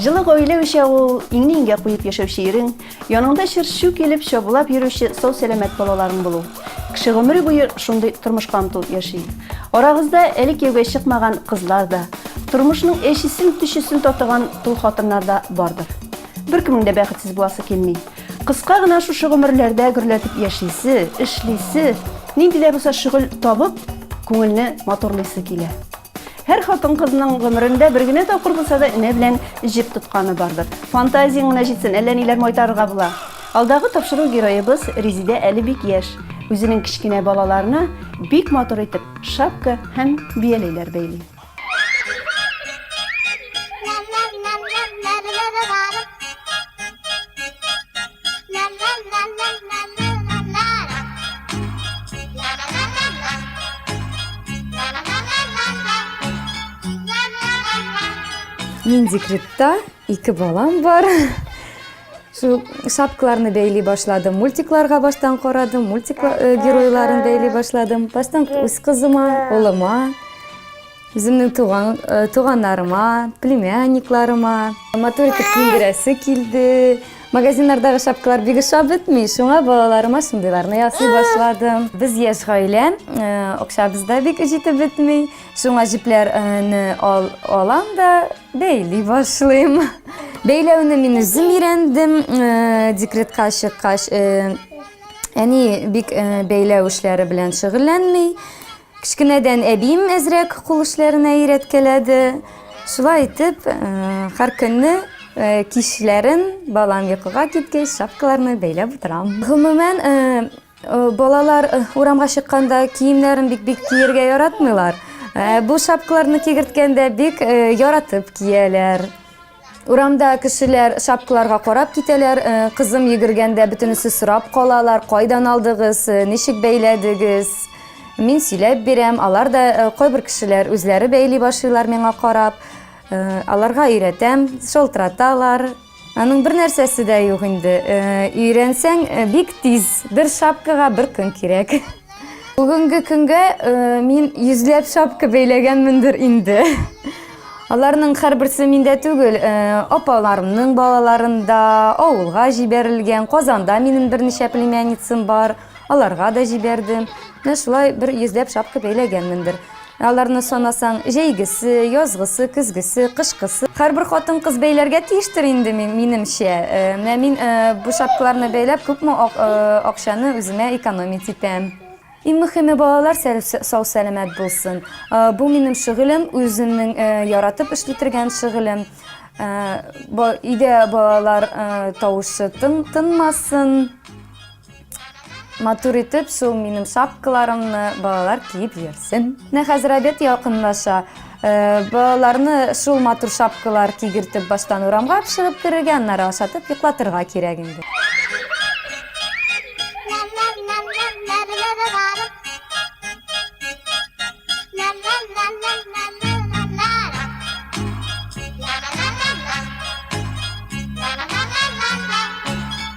Җылы гаилә уча ул, иңне иңгә куеп яшәүче ирең, яныңда чыр-чу килеп чабулап йөрүче сау-сәламәт балаларың булу. Кеше гомере буе шундый тормышка омтылып яши. Арагызда әле кияүгә чыкмаган кызлар да, тормышның әчесен-төчесен татыган тол хатыннар да бардыр. Беркемнең дә бәхетсез буласы килми. Кыска гына шушы гомерләрдә гөрләтеп яшисе, эшлисе, нинди дә булса шөгыль табып, күңелне матурлыйсы килә. Һәр хатын-кызның гомерендә бер генә тапкыр булса да энә белән җеп тотканы бардыр. Фантазияң генә җитсен, әллә ниләр майтарырга була. Алдагы тапшыру героебыз Резидә әле бик яшь. Үзенең кечкенә балаларына бик матур итеп шапка һәм бияләйләр бәйли. Мин декретта, ике балам бар. Шул шапкаларны бәйли башладым, мультикларга баштан карадым, мультик э, геройларын бәйли башладым. Баштан үз кызыма, улыма, Үземнең туган, э, туганнарыма, племянникларыма матур итеп киендерәсе килде. Магазиннардагы шапкалар бик ошап бетми, шуңа балаларыма шундыйларны ясый башладым. Без яшь гаилә, э, акчабыз да бик җитеп бетми. Шуңа җепләрне э, ал, алам да бәйли башлыйм. Бәйләүне мин үзем өйрәндем, э, декретка чыккач, э, әни бик э, бәйләү эшләре белән шөгыльләнми. Кечкенәдән әбием әзрәк кул эшләренә өйрәткәләде. Шулай итеп, һәркөнне кичләрен, балам йокыга киткәч, шапкаларны бәйләп утырам. Гомумән, балалар урамга чыкканда киемнәрен бик бик киергә яратмыйлар. Бу шапкаларны кигерткәндә бик яратып кияләр. Урамда кешеләр шапкаларга карап китәләр. Э, кызым йөгергәндә бөтенесе сорап калалар, кайдан алдыгыз, э, ничек бәйләдегез? Мин сөйләп бирәм, алар да э, кайбер кешеләр үзләре бәйли башлыйлар миңа карап. Аларга өйрәтәм, шалтыраталар. Аның бер нәрсәсе дә юк инде. Өйрәнсәң бик тиз. Бер шапкага бер көн кирәк. Бүгенге көнгә мин йөзләп шапка бәйләгәнмендер инде. Аларның һәрберсе миндә түгел, апаларымның балаларында, авылга җибәрелгән, Казанда минем берничә племянницам бар, аларга да җибәрдем. Менә шулай бер йөзләп шапка бәйләгәнмендер. Ә аларны санасаң, җәйгесе, язгысы, көзгесе, кышкысы. Һәрбер хатын-кыз бәйләргә тиештер инде, минемчә. Менә мин бу шапкаларны бәйләп, күпме акчаны үземә экономить итәм. Иң мөхиме, балалар сау-сәламәт булсын. Бу, минем шөгылем, үземнең яратып эшли торган шөгылем. Өйдә балалар тавышы тынмасын. Матур итеп шул минем шапкаларымны балалар киеп йөрсен. Менә хәзер обед якынлаша. Э, балаларны шул матур шапкалар кигертеп баштан урамга чыгып керергә, аннары ашатып йоклатырга кирәк инде.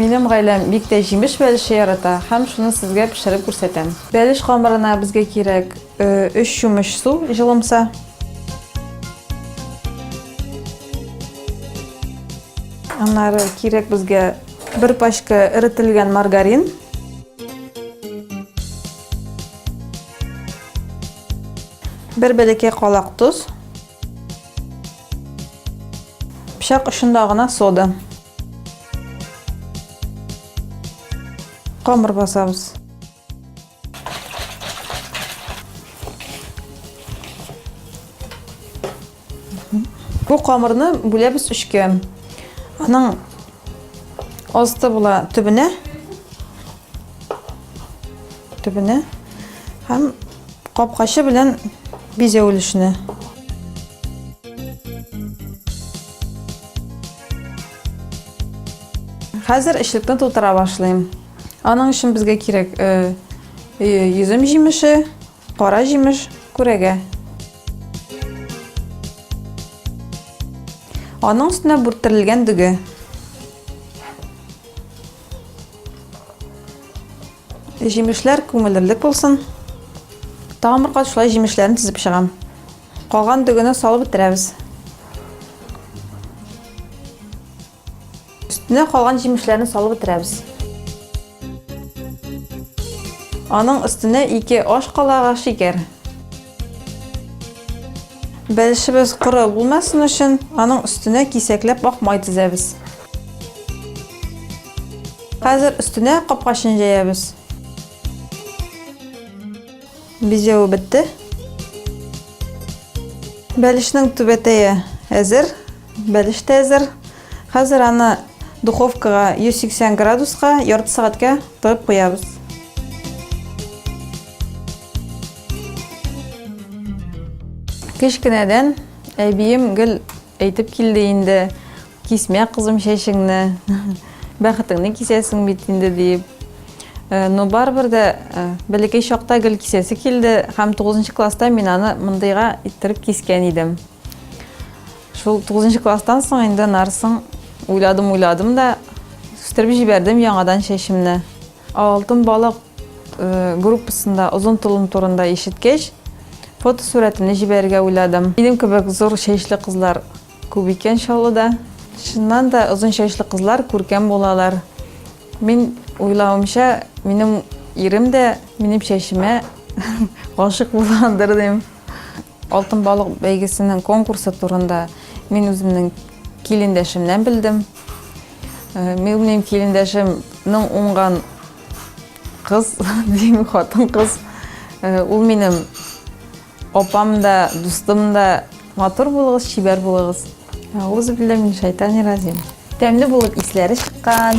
Минем гаиләм бик тә җимеш бәлеше ярата һәм шуны сезгә пешереп күрсәтәм. Бәлеш камырына безгә кирәк 3 э, чумыч су, җылымса. Аннары кирәк безгә бер пачка эрителгән маргарин. Бер бәләкәй калак тоз. Пычак очында гына сода. Камыр басабыз. Бу камырны бүләбез өчкә. Аның асты була төбенә. Төбенә. Һәм капкачы белән бизәү өлешенә. Хәзер эчлекне тутыра башлыйм. Аның өчен безгә кирәк э, э, йөзем җимеше, кара җимеш, күрәгә. Аның өстенә бүрттерелгән дөге. Җимешләр күмелерлек булсын. Тагын бер кат шулай җимешләрен тезеп чыгам. Калган дөгене салып бетерәбез. Өстенә калган җимешләрне салып бетерәбез. Аның өстенә 2 аш калага шикәр. Бәлешебез коры булмасын өчен, аның өстенә кисәкләп ак май тезәбез. Хәзер өстенә капкачын җәябез. Бизәве бетте. Бәлешнең түбәтәе әзер. Бәлеш тә әзер. Хәзер аны духовкага 180 градуска ярты сәгатькә тыгып куябыз. Кечкенәдән әбием гел әйтеп килде инде. Кисмә, кызым, чәчеңне, бәхетеңне кисәсең бит инде, диеп. Но барыбер дә бәләкәй чакта гел кисәсе килде һәм 9 класста мин аны мондыйга иттереп кискән идем. Шул 9 класстан соң инде нарсын уйладым, уйладым да үстереп җибәрдем яңадан чәчемне. Алтын балык э, группасында озын толым турында ишеткәч, фотосурәтемне җибәрергә уйладым. Минем кебек зур чәчле кызлар Күп икән Чаллыда. Чыннан да, озын чәчле кызлар күркәм булалар. Мин уйлавымча, минем ирем дә минем чәчемә гашык булгандыр дим. Алтын балык бәйгесенең конкурсы турында мин үземнең килендәшемнән белдем. Э, минем килендәшемнең уңган кыз, дим, хатын кыз. Э, ул минем Апам да, дустым да, матур булыгыз, чибәр булыгыз. Әгъузу билля мин шайтани разим. Тәмле булып исләре чыккан.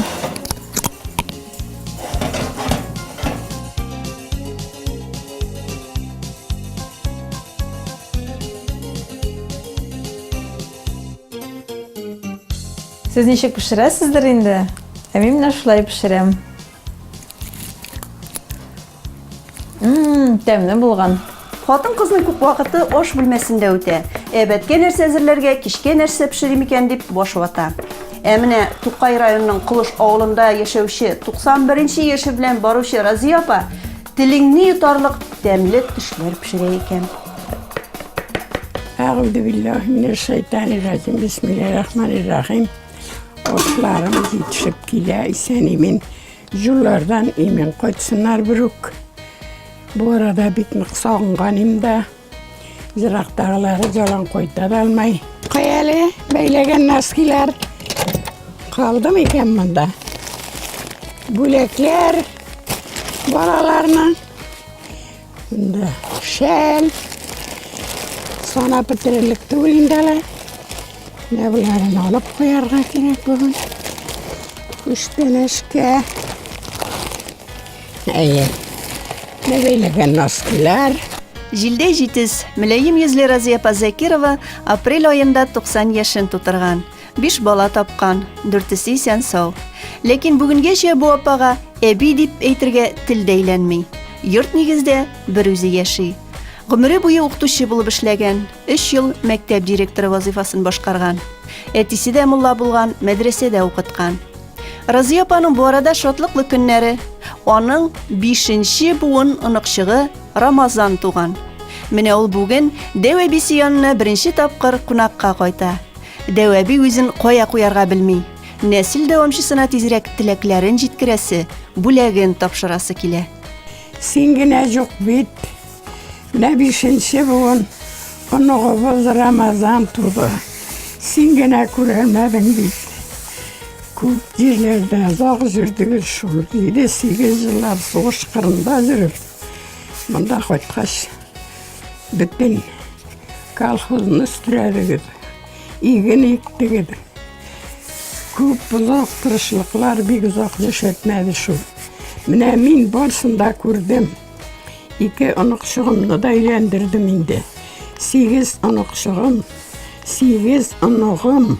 Сез ничек пешерәсездер инде? Ә мин менә шулай пешерәм. Мм, тәмле булган. Хатын кызның күп вакыты аш бүлмәсендә үтә. Әбәткә нәрсә әзерләргә, кичкә нәрсә пешерим икән дип баш вата. Ә менә Тукай районының Кылыш авылында яшәүче 91 нче яше белән баручы Разия апа телеңне йотарлык тәмле төшләр пешерә икән. Әгүзу биллаһи минәш шайтани раҗим. Бисмиллаһир рахманир рахим. Ошларым җитешеп килә, исән-имин. Юллардан имин кайтсыннар берүк. Бу арада бик нык сагынганым да. Ерактагылары җалан кайта да алмай. Каяле бәйләгән носкилар калдым икән монда. Бүләкләр балаларның Инде шәл. Сана бетерерлек түгел инде әле. Менә боларын алып куярга кирәк бүген. Күчтәнәшкә. Әйе. Менә бәйләгән носкилар. Җилдәй җитез, мөләем йөзле Разия апа Закирова апрель аенда 90 яшен тутырган. Биш бала тапкан, дүртесе исән сау. Ләкин бүгенгәчә бу апага әби дип әйтергә тел дәйләнми. Йорт нигездә бер үзе яши. Гомере буе укытучы булып эшләгән, өч ел мәктәп директоры вазыйфасын башкарган. Әтисе дә мулла булган, мәдрәсәдә укыткан. Разия апаның бу арада шатлыклы көннәре. Аның бишенче буын оныкчыгы Рамазан туган. Менә ул бүген дәү әбисе янына беренче тапкыр кунакка кайта. Дәү әби үзен кая куярга белми. Нәсел дәвамчысына тизрәк теләкләрен җиткерәсе, бүләген тапшырасы килә. Син генә юк бит. Менә бишенче буын оныгыбыз Рамазан туды. Син генә күрәлмәдең бит. Күп җирләрдә озак җөрдегез шул. Җиде-сигез еллар сугыш кырында җөреп, монда кайткач, Бөтен колхозны үстерәбез. Иген иктегез. Күп озак тырышлыклар, бик озак яшәтмәде шул. Менә мин барсын да күрдем. Ике оныкчыгымны да өйләндердем инде. Сигез оныкчыгым, сигез оныгым.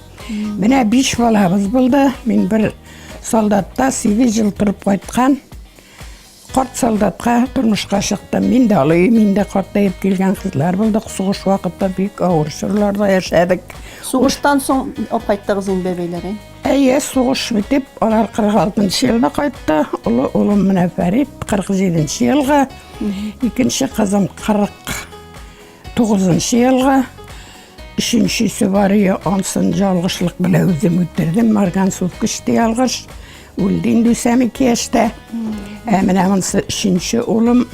Менә биш балабыз булды. Мин бер солдатта 8 жыл торып кайткан. Карт солдатка тормышка чыктым. Мин дә алый, мин дә картайып килгән кызлар булдык. Сугыш вакытта бик авыр чорларда яшәдек. Сугыштан соң алып кайттыгыз инде бәбиләрен. Әйе, сугыш битеп, алар 46 елда кайтты. Олы улым менә Фәрит 47 елга, икенче кызым 40 Тугызынчы елга өченче сөбария ансын жалгышлык белән үзем үтердем. Марган суд күчте ялгыш. Үлде инде үсәм ике яшьтә. Ә менә монсы өченче улым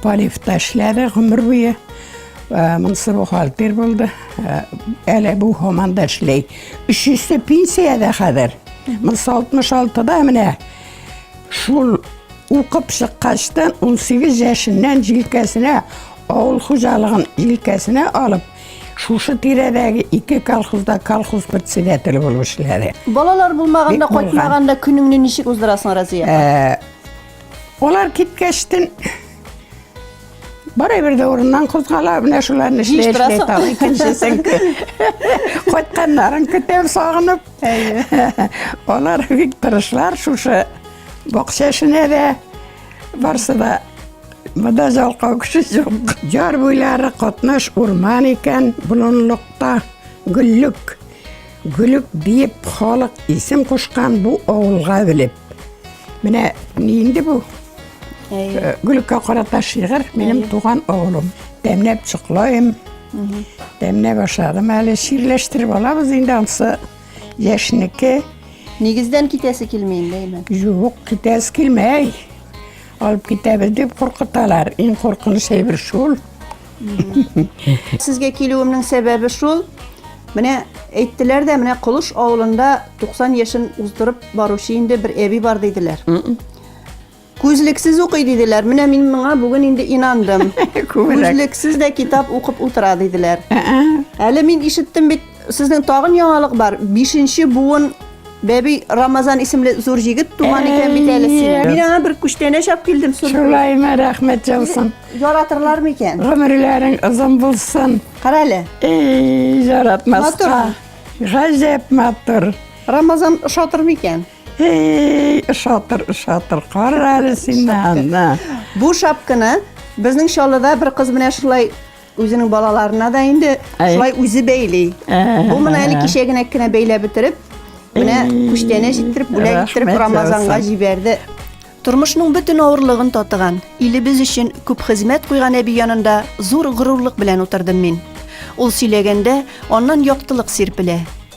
полифта эшләде гомер буе. Ә, Монсы бухгалтер булды. Ә, Әле бу һаман да эшли. Өчесе пенсиядә хәзер. Монсы 66-да менә. Шул укып чыккачтан 18 яшеннән җилкәсенә Авыл хуҗалыгын илкәсенә алып, шушы тирәдәге ике колхозда колхоз председателе булып эшләде. Балалар булмаганда, Бик булган. кайтмаганда көнеңне ничек уздырасың, Разия? Ә, Алар киткәчтен барыбер дә урыннан кузгала, менә шуларны эшли, эшли Җыештырасың. тагы икенчесен кө- кайтканнарын көтәм сагынып. Алар бик тырышлар шушы бакча эшенә дә барсы да Монда жалкау кеше юк. Яр буйлары катнаш урман икән, болынлыкта гөллек. Гөлек диеп халык исем кушкан бу авылга белеп. Менә инде бу э, гөлеккә карата шигырь минем туган авылым. Тәмләп чоклаем. Тәмләп ашадым әле ширләштереп алабыз инде ансы яшьнеке. Нигездән китәсе килмәй инде. Юк, китәсе килмәй. Алып китәбез дип куркыталар. Иң куркыныч әйбер шул. Сезгә килүемнең сәбәбе шул. Менә әйттеләр дә, менә Колыш авылында 90 яшен уздырып баручы инде бер әби бар диделәр. Күзлексез укый диделәр. Менә мин моңа бүген инде инандым. Күзлексез дә китап укып утыра диделәр. Әле мин ишеттем бит Сезнең тагын яңалык бар. Бишенче буын Бәби Рамазан исемле зур җигет туган икән бит әле сине. Мин аңа бер күчтәнә чап килдем. Шулаймы, рәхмәт яусын. Яратырлар микән? Гомерләрең озын булсын. Кара әле. Эй, яратмаска. Гаҗәп матур. Рамазан ошатыр микән? Эй, ошатыр, ошатыр. Кара әле син Бу шапканы безнең Чаллыда бер кыз менә шулай Үзенең балаларына да инде Әй. шулай үзе бәйли. Ә-ә-ә. Бу менә әле кичә генә кенә бәйләп бетереп, менә Әй. күчтәнә җиттереп, бүләк Рәхмәт иттереп яусын. Рамазанга җибәрде. Тормышның бөтен авырлыгын татыган, илебез өчен күп хезмәт куйган әби янында зур горурлык белән утырдым мин. Ул сөйләгәндә, аннан яктылык сирпелә.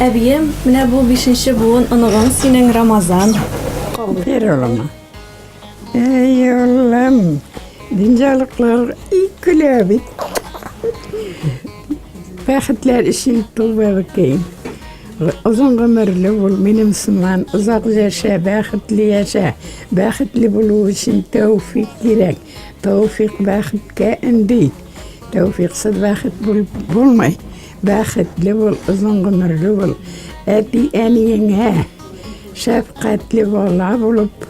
Әбием, менә бу бишенче буын оныгың синең Рамазан. Кабир улыма. Эй, улым, динҗалыклар икеле бит. Бәхетләр өчен тулбалы кейин. Озын гомерле бул, минем сыман, озак яшә, бәхетле яшә. Бәхетле булу өчен тәүфик кирәк. Тәүфик бәхеткә өнди. Тәүфиксыз бәхет булып булмый. Бәхетле бул, озын гомерле бул. Әти әниеңә шәфкатьле бала булып,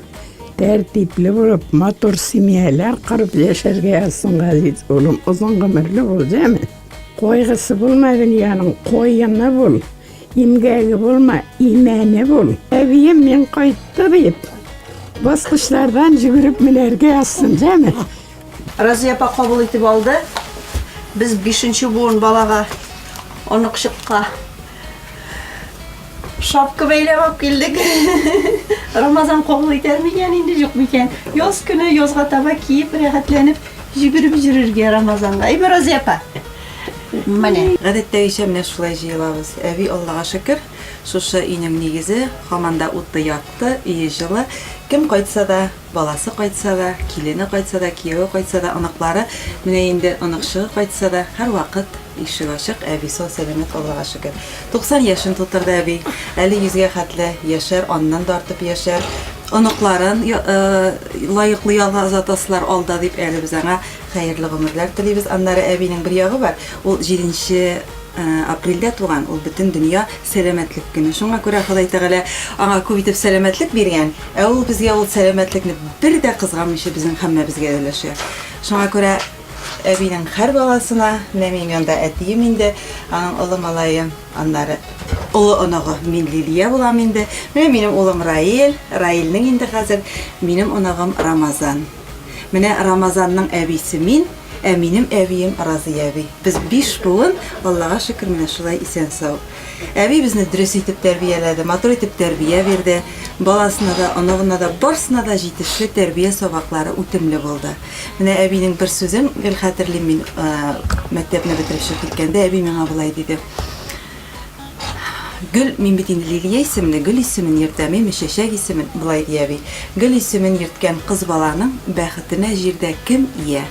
тәртипле булып, матур семьялар корып яшәргә язсын, газиз улым. Озын гомерле бул, дәме. Койгысы булма дөньяның, коены бул. Имгәге булма, имәне бул. Әбием мин кайтты дип, баскычлардан җөгереп менәргә язсын, дәме. Разия апа кабул итеп алды. Без бишенче буын балага, оныкчыкка шапка бәйләп алып килдек. Рамазан кабул итәр микән инде, юк микән? Яз көне язга таба киеп, рәхәтләнеп җигереп җөрергә Рамазанга. Әйме Разия апа? Менә. Гадәттәгечә менә шулай җыелабыз. Әби Аллага шөкер, шушы өйнең нигезе, хаманда уты якты, өе җылы. Кем кайтса да, Баласы кайтса да, килене кайтса да, кияве кайтса да, оныклары, менә инде оныкчыгы кайтса да, һәрвакыт ишек ачык, әби сау-сәламәт, Аллага шөкер. 90 яшен тутырды әби, әле йөзгә хәтле яшәр, аннан да артып яшәр, оныкларын лаеклы ялга озатасылар алда дип, әле без аңа хәерле гомерләр телибез. Аннары әбинең бер ягы бар, ул җиденче Апрельдә туган, ул бөтен дөнья сәламәтлек көне. Шуңа күрә Ходай Тәгалә аңа күп итеп сәламәтлек биргән, ә ул безгә ул сәламәтлекне бер дә кызганмыйча безнең һәммәбезгә өләшә. Шуңа күрә әбинең һәр баласына, менә минем янда әтием инде, аның олы малае, аннары олы оныгы, мин Лилия булам инде. Менә минем улым Раил, Раилнең инде хәзер минем оныгым Рамазан. Менә Рамазанның әбисе мин, ә минем әбием Разый әби. Без биш буын, Аллага шөкер, менә шулай исән-сау. Әби безне дөрес итеп тәрбияләде, матур итеп тәрбия бирде. Баласына да, оныгына да, барсына да җитешле тәрбия сабаклары үтемле булды. Менә әбинең бер сүзен гел хәтерлим мин, мәктәпне бетереп чыгып киткәндә, әби миңа болай диде. Гөл, мин бит инде Лилия исемле гөл исемен йөртәм, яме чәчәк исемен, болай ди әби. Гөл исемен йөрткән кыз баланың бәхетенә җирдә кем ия?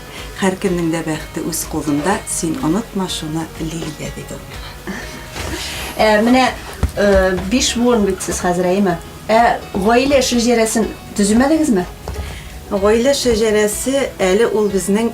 Һәркемнең дә бәхете үз кулында, син онытма шуны, Лилия, диде ул миңа. Ә менә биш буын бит сез хәзер, әйеме? Ә гаилә шәҗәрәсен төземәдегезме? Гаилә шәҗәрәсе әле ул безнең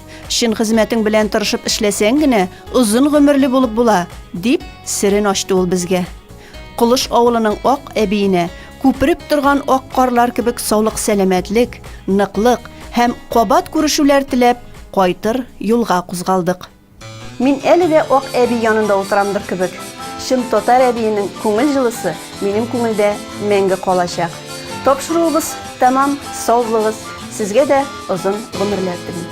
Чын хезмәтең белән тырышып эшләсәң генә, озын гомерле булып була, дип серен ачты ул безгә. Колыш авылының ак әбиенә күпереп торган ак карлар кебек саулык сәламәтлек, ныклык һәм кабат күрешүләр теләп, кайтыр юлга кузгалдык. Мин әле дә ак әби янында утырамдыр кебек. Чын татар әбиенең күңел җылысы минем күңелдә мәңге калачак. Тапшыруыбыз тәмам, сау булыгыз, сезгә дә озын гомерләр телим.